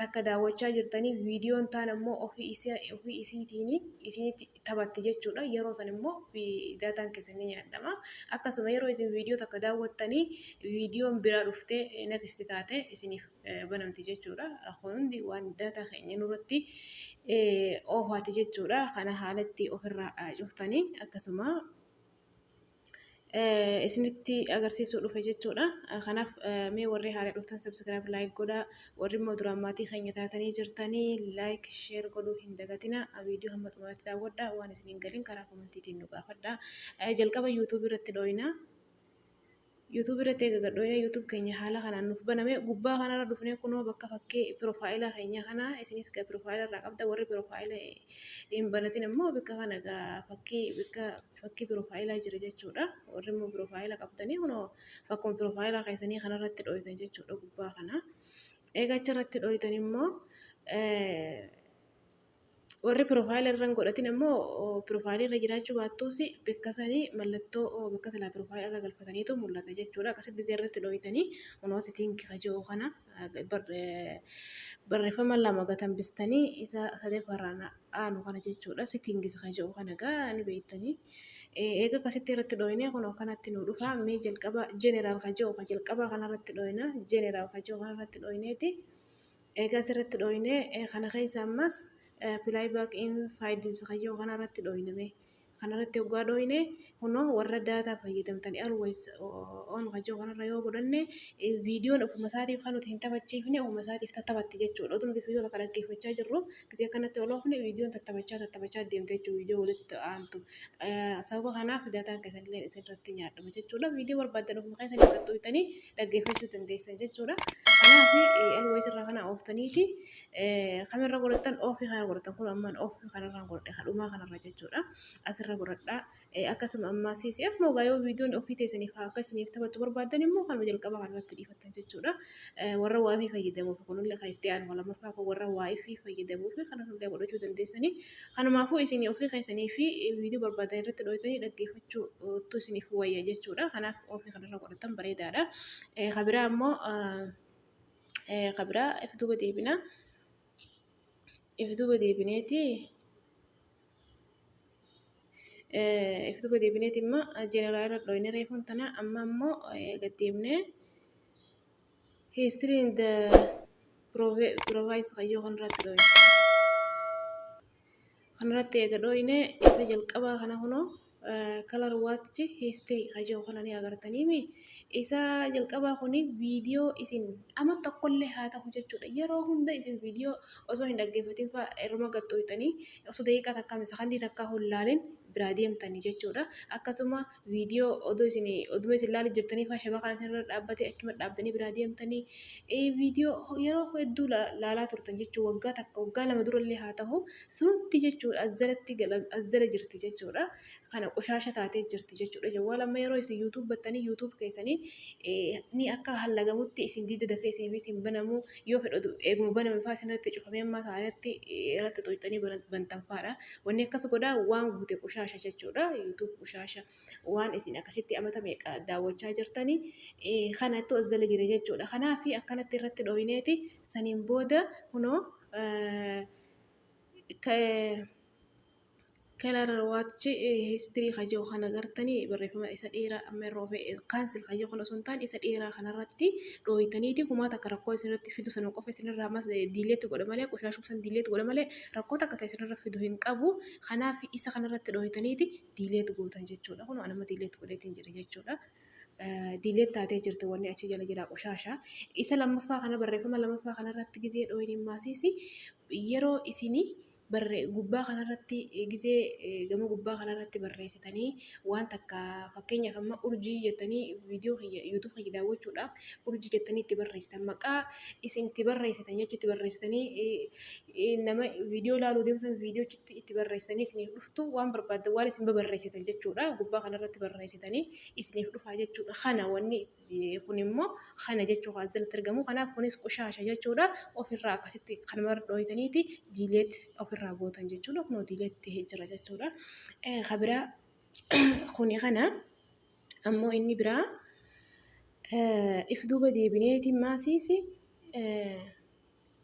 takka daawwachaa jirtanii viidiyoon taan ammoo ofii isiitiin isinitti taphatti jechuudha. Yeroo san immoo daataan keessan ni nyaadhama. Akkasuma yeroo isin viidiyoo takka daawwattanii viidiyoon biraa dhuftee next taate isiniif banamti jechuudha. Kun hundi waan daataa keenya nurratti oofaati jechuudha. Kana haalatti ofirraa cuftanii akkasuma isinitti agarsiisuu dhufe jechuudha. Kanaaf mee warri haala dhuftan subscribe like godhaa. Warri immoo duraan maatii keenya taatanii jirtanii like share godhuu hin dagatina. Viidiyoo hamma xumuraatti daawwadhaa waan isin hin galin karaa komantiitiin nu gaafadhaa. Jalqaba YouTube irratti dhooyina. YouTube irratti eega gadhooyina YouTube keenya haala kanaan nuuf baname gubbaa kanarra dhufnee kunoo bakka fakkii piroofaayilaa keenya kana isinis gaa piroofaayila irraa qabda warri piroofaayila hin banatin immoo bakka kana gaa fakkii bakka fakkii piroofaayilaa jira jechuudha. Warri immoo piroofaayila qabdanii kunoo fakkuma piroofaayilaa keessanii kanarratti dhooytan jechuudha gubbaa kana. Egaa achirratti dhooytan immoo warri piroofaayila irra hin godhatin immoo piroofaayilii irra jiraachuu baattuus bakka sanii mallattoo bakka silaa piroofaayila irra galfataniitu mul'ata jechuudha. Akkasitti gisee irratti dhooytanii kunoo sitiin kifa jiru kana barreeffama lama gatan bistanii isa sadaffaarraan dhaanu kana jechuudha sittingis kan jedhu kana egaa ni beektanii eega akkasitti irratti dhooyinee kun akkanatti nu dhufa mee jalqaba jeneraal kan jedhu kan jalqabaa kanarratti dhooyina jeneraal kan jedhu kanarratti dhooyineeti eegaa asirratti dhooyinee kana keessa ammas pilaay baak in faayidiinsa kan jedhu kanarratti dhooyiname kanarratti oggaa dhooyne kunoo warra daataa fayyadamtanii always on kan jiru kanarra yoo godhanne viidiyoon ofuma isaatiif kan nuti hin taphachiifne ofuma isaatiif tattaphatti jechuudha. Otoo nuti viidiyoo takka dhaggeeffachaa jirru gisee kanatti ol oofne viidiyoon tattaphachaa tattaphachaa deemte jechuudha viidiyoo walitti aantu. Sababa kanaaf daataan keessanillee isinirratti nyaadhama jechuudha. Viidiyoo barbaaddan ofuma keessan qaxxooytanii dhaggeeffachuu dandeessan jechuudha. Kanaaf always irraa kana ooftaniiti Kamirra godhattan ofi kana godhattan kun amman ofi kanarra godhadhe kadhuma kanarra jechuudha asirra godhadha akkasuma ammaa siisi akkuma ogaa yoo viidiyoon ofii teessaniif akka isiniif taphatu barbaaddan immoo kanuma jalqaba kanarratti dhiifattan jechuudha warra waa fi fayyadamuuf kunillee kan itti aanu lamaffaa kun warra waa fi fayyadamuuf kana hundaa godhachuu dandeessanii kanumaafuu isin ofii keessanii fi viidiyoo barbaadan irratti dhooytanii dhaggeeffachuu tu isiniif wayya jechuudha kanaaf ofii kanarra godhattan bareedaadha kabiraa ammoo ka biraa if duuba deebina if duuba deebineeti if duuba deebineeti immoo jeneraa irra dhooyne reefuun tana amma immoo gad deemne history in the province kayyoo kan irratti dhooyne Kanarratti eega dhooyne isa jalqabaa kana kunoo color watch history ka jedhu kana ni agartaniimi. Isa jalqabaa kuni viidiyoo isin ama tokkollee haa ta'u jechuudha yeroo hunda isin viidiyoo osoo hin dhaggeeffatin fa'a irruma gad dhooyxanii osoo daqiiqaa takkaa, sekondii takkaa hin laalin biraa deemtanii jechuudha. Akkasuma. viidiyoo odoo isin oduma isin ilaalii jirtanii faa shabakaan isin irra dhaabbatee achuma dhaabdanii biraa deemtanii viidiyoo yeroo hedduu laalaa turtan jechuun waggaa takka waggaa lama durallee haa ta'u sunumti jechuudha azzaratti azzala jirti jechuudha kana qoshaasha taatee jirti jechuudha jawwaal amma yeroo isin yuutuub battanii yuutuub keessanii ni akka hallagamutti isin diida dafee isin isin banamu yoo fedhu eeguma baname faa isin irratti cufamee ammaa isaanitti irratti xuuxxanii bantan faadha. Wanni akkas godha waan guute qushaasha jechuudha. YouTube qushaasha waan isin akkasitti amata meeqa daawwachaa jirtani kana itti as jala jira jechuudha. Kanaaf akkanatti irratti dhooyineeti saniin booda kunoo kelar waachi histirii kajoo kan agartanii barreeffama isa dheeraa amma irra ofee kaansil kajoo kan osoo hin taane isa dheeraa kanarratti dhooyitaniiti kumaata akka rakkoo isinirratti fidu sana qofa isinirraa mas diileetti godha malee qushaashuu san diileetti godha malee rakkoo takka ta'e isinirra fidu hin qabu. Kanaaf isa kanarratti dhooytaniiti diileet gootan jechuudha. Kun anuma diileet godheetiin jira jechuudha. Diileet taatee jirti wanni achi jala jira qoshaasha. Isa lammaffaa kana barreeffama lammaffaa kanarratti gizee dhooyniin maasiisi yeroo isinii barre gubbaa kanarratti gizee gama gubbaa kanarratti barreessitanii waan takka fakkeenyaaf amma urjii jettanii viidiyoo kiyya yuutuub kiyya daawwachuudhaaf urjii jettanii itti barreessitan maqaa isin itti barreessitan jechuutti barreessitanii nama viidiyoo ilaaluu deemtan viidiyochitti itti barreessanii isiniif dhuftu waan barbaaddan waan isin babarreessitan jechuudha gubbaa kanarratti barreessitanii isiniif dhufaa jechuudha kana wanni kun immoo kana jechuu kan asirratti argamu kanaaf kunis qushaasha jechuudha ofirraa akkasitti kan mara dhooytaniiti diileet ofirraa gootan jechuudha kunoo diileet ta'ee jira jechuudha kabiraa kuni kana ammoo inni biraa if duuba deebineeti maasiisi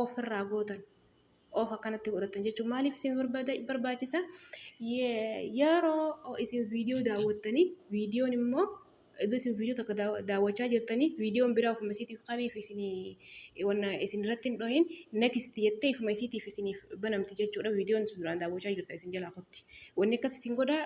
of irraa gootan of akkanatti godhatan jechuun maaliif isin barbaachisa yeroo isin viidiyoo daawwattanii viidiyoon immoo iddoo isin viidiyoo takka daawwachaa jirtanii viidiyoon biraa ofuma isiitiif kaniif isin wanna isin irratti hin dhohin next jettee ifuma isiitiif isiniif banamti jechuudha viidiyoon isin duraan daawwachaa jirtan isin jalaa kotti wanni akkas isin godha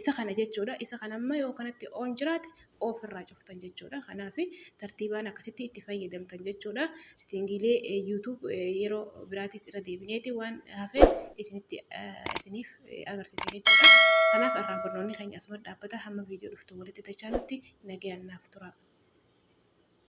isa kana jechuudha isa kana amma yoo kanatti oon jiraate off irraa cuftan jechuudha. Kanaaf tartiibaan akkasitti itti fayyadamtan jechuudha. Sitiingiilee YouTube yeroo biraatis irra deebineeti waan hafe isinitti isiniif agarsiisa jechuudha. Kanaaf irraa barnoonni keenya asuma dhaabbata hamma viidiyoo dhuftu walitti dachaanutti nagayaan naaf tura.